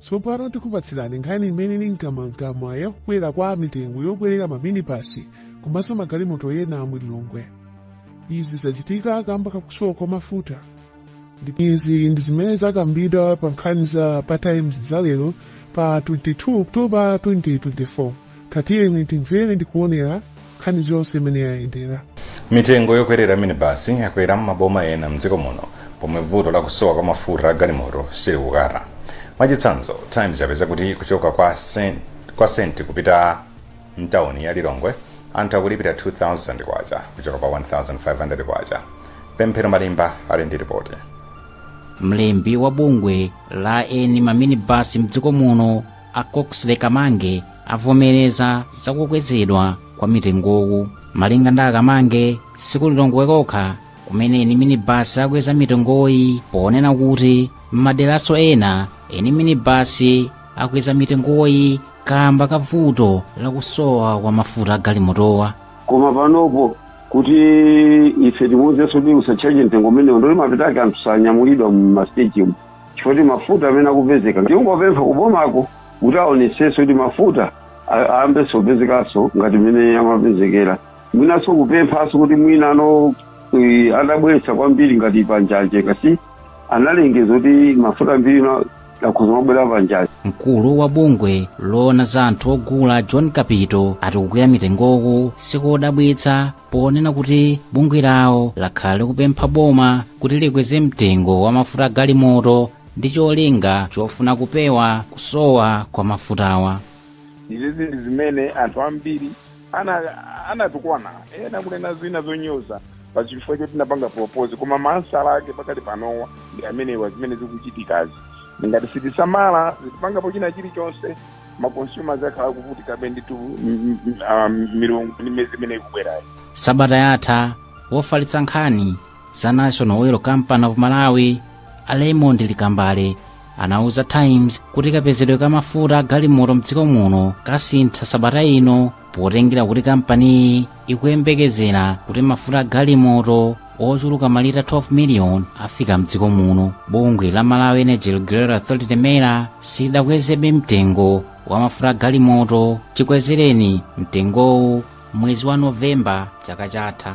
Tsopano tikupatsirani nkhani imene ili mkamwamkamwa ya kukwera kwa mitengo yokwerera maminibasi komanso magalimoto ena mu Lilongwe. Izi zachitika kamba kakusowa kwa mafuta. Ndipo izi ndi zimene zakambidwa pa nkhani za pa Times za lero pa 22 October 2024. Tatiyeni timvere ndi kuonera nkhani zonse mmene yayendera. Mitengo yokwerera minibasi yakwera m'maboma ena m'dziko muno pomwe vuto la kusowa kwa mafuta a galimoto silikukatha. Mwachitsanzo, Times yapeza kuti kuchoka kwa Senti kupita m'tauni ya Lilongwe anthu akulipira K2,000 kuchoka pa K1,500. Pemphero Malimba ali ndi lipoti. Mlembi wa bungwe la eni maminibasi m'dziko muno, A Coxley Kamange avomereza za kukwezedwa kwa mitengowu. Malinga ndi a Kamange, si ku Lilongwe kokha kumene eni minibasi akweza mitengoyi ponena kuti m'maderaso ena eni minibasi akweza mitengoyi kamba ka vuto la kusowa kwa mafuta a galimotowa. koma panopo kuti ife timuuzenso kuti usatchaje mtengo umenewo ndiye kuti mapeto ake anthu sanyamulidwa mu masiteji umu chifukwa mafuta amene akupezeka tingopempha kubomako kuti aonesese kuti mafuta ayambenso kupezekanso ngati mmene amapezekera mwinanso kupemphanso kuti mwina ano eh, azibweretsa kwambiri ngati panjanji paja analengeza kuti mafuta ambiri no- akhoza kumabwera panjanji mkulu wa bungwe loona za anthu ogula john kapito ati kukwera mitengoku sikodabwitsa ponena kuti bungwe lawo lakhala likupempha boma kuti likweze mtengo wa mafuta galimoto ndi cholinga chofuna kupewa kusowa kwa mafutawa izizi ndi zimene anthu ambiri anatukwana ena kunena zina zonyoza pa chifukwa choti tinapanga propose koma maansala ake pakali panowa ndi amenewa zimene zikuchitikazi ngati sitisamala sitipangapo china chilichonse ma consumers akhala akuvutikabe ndithu m- m- ah, milungu ndi miyezi imene ikubwerayi sabata yatha wofalitsa nkhani za national oil company of malawi a raymond likambale anauza times kuti kapezedwe ka mafuta a galimoto mdziko muno kasintha sabata ino potengera kuti kampaniyi ikuyembekezera kuti mafuta a galimoto ochuluka malita 12 miliyoni afika mdziko muno bungwe la malawi energy regulatory authority mera silidakwezebe mtengo wa mafuta a galimoto chikwezereni mtengowu mwezi wa novemba chaka chatha